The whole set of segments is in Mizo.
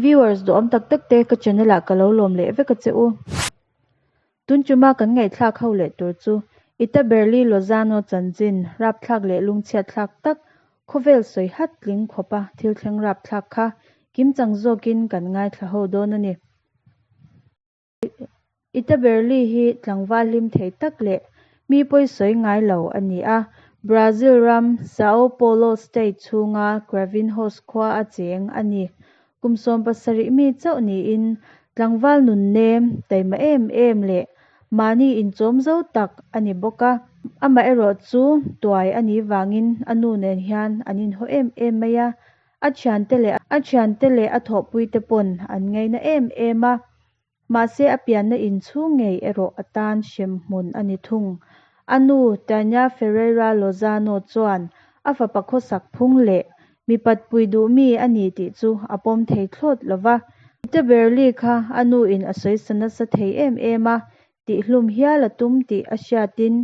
Viewers duhawm tak tak te ka channel ah ka lo lawm leh vek a che u. Tun chu ma kan ngaihthlak ho leh tur chu Ita Berli Lozano chanchin rapthlak leh lungchhiatthlak tak khawvel sawi hat tling khawp a thil thleng rapthlak kha kim chang zawk in kan ngaithla ho dawn a ni. Ita Berli hi tlangval hlim theih tak leh mi pawi sawi ngai lo a ni a. Brazil ram Sao Paulo State chhunga Cravinhos khua a cheng a ni. Kum sawm pasarih mi chauh niin tlangval nunnem, taima em em leh mahni inchawm zo tak a ni bawk a. Amaherawhchu tuai a nih vangin a nu nen hian an inhaw em em mai a, A thiante leh a thiante leh a thawhpuite pawn an ngaina em em a, mahse a pianna in chhung ngei erawh a tan hrem hmun a ni thung. A nu Tânia Ferreira Lozano chuan a fapa khawsak phung leh mi patpui duhmi a ni tih chu a pawm thei thlawt lo va. Mite ber li kha a nu in a sawi sa nasa thei em em a, tihhlum hial a tum tih a hriatin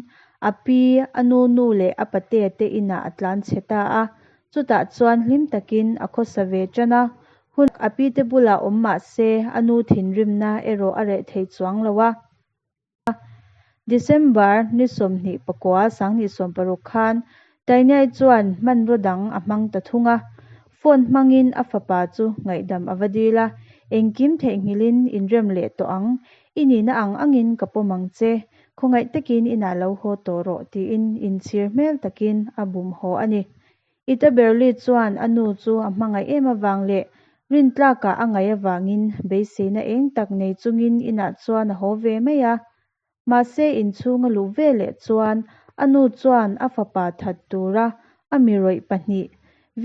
a pi, a nunu leh a pate te inah a tlan chhe ta a. Chutah chuan hlim takin a khawsa ve ṭan a. Hun a pi te bulah awm mah se a nu thinrimna erawh a reh thei chuang lo a. December ni sawmhnih pakua, sangnihsawm paruk khan Tainei chuan hmanraw dang a hmang ta thung a, phone hmangin a fapa chu ngaihdam a va dil a, Engkim theih nghilhin inrem leh tawh ang, i nihna ang angin ka pawm ang che, khawngaih takin inah lo haw tawh rawh tiin inchhir hmel takin a bum haw a ni. I ta Berli chuan a nu chu a hmangaih em avang leh Rintlakah a ngaih avangin beiseina eng tak nei chungin inah chuan a haw ve mai a, Mahse inchhung a luh ve leh chuan a nu chuan a fapa that tura a mirawih pahnih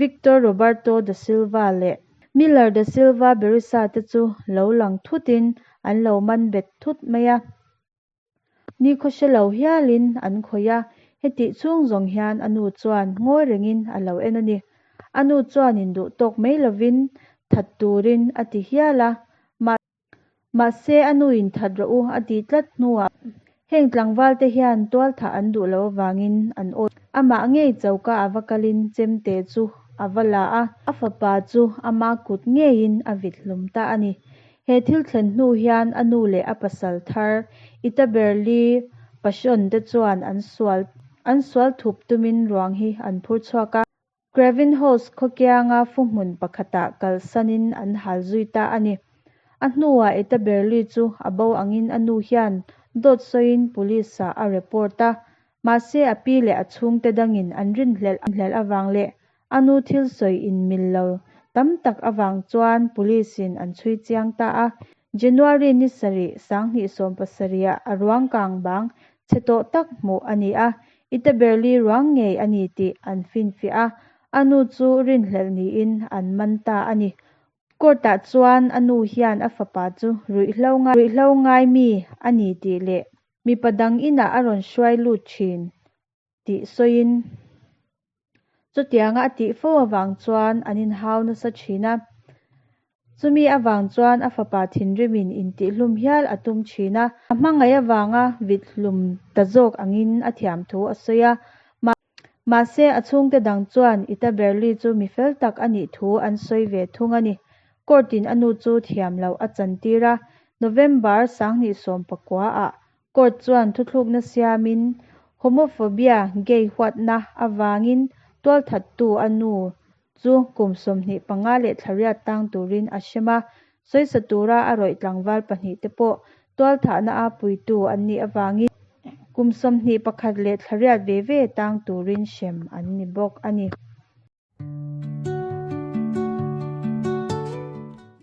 Victor Roberto da Silva leh Miller da Silva Berissa te chu lo lang thutin an lo man bet thut mai a. Nikhaw hre lo hialin an khawih a, hetih chhung zawng hian a nu chuan ngawi rengin a lo en a ni. A nu chuan induh tawk mai lovin that turin a ti hial a. Mahse. Mahse, a nu in that rawh u, a ti tlat hnuah heng tlangvalte hian tualthah an duh loh avangin an awi. Amah ngei choka a va kalin chem te chu a va la a, a fapa chu ama kut ngeiin a vit hlum ta a ni. He thil thlen hnu hian a nu leh a pasal thar Ita Berli Pasion te chuan an sual an sual thup tumin ruang hi an phur chhuak a. Craven House khawkianga fu hmun pakhatah kalsanin an hal zui ta a ni. A hnuah Etta Berli chu a bo angin a nu hian dawt sawiin Police-ah a report a. Mahse a pi leh a chhungte dangin an rin hlelh avang leh a nu thil sawi inmil lo tam tak avang chuan Police-in an chhui chiang ta a. January ni sarih sang hnih sawm pasaria a ruang kang bang chhe tawh tak hmuh a ni a, i te ber li ruang ngei a ni tih an finfiah a, a nu chu rinhlelh niin an man ta a ni. Court ah chuan a nu hian a fapa chu ruihhlo ngai ruihhlo ngai mi a ni tih leh mipa dang inah a rawn hruai lut thin tih sawiin chutianga a tih fo avang chuan an inhau nasa thin a. Chumi avang chuan a fapa thinrimin intihhlum hial a tum thin a. A hmangaih avanga vithlum ta zawk angin a thiam thu a sawi a. Mahse, a chhungte dang chuan Ita Berli chu mi fel tak a nih thu an sawi ve thung a ni. Court-in a nu chu thiam loh a chantir a. November sanghnih sawm pakua ah Court chuan thuthlukna siamin homophobia, gay, huatna avangin tualthattu a nu chu kum sawmhnih panga leh thlariat tang turin a hrem a, sawisa tura a rawih tlangval pahnih te pawh tualthahna a puitu an nih avangin kum sawmhnih pakhat leh thlariat ve ve tang turin hrem an ni bawk a ni.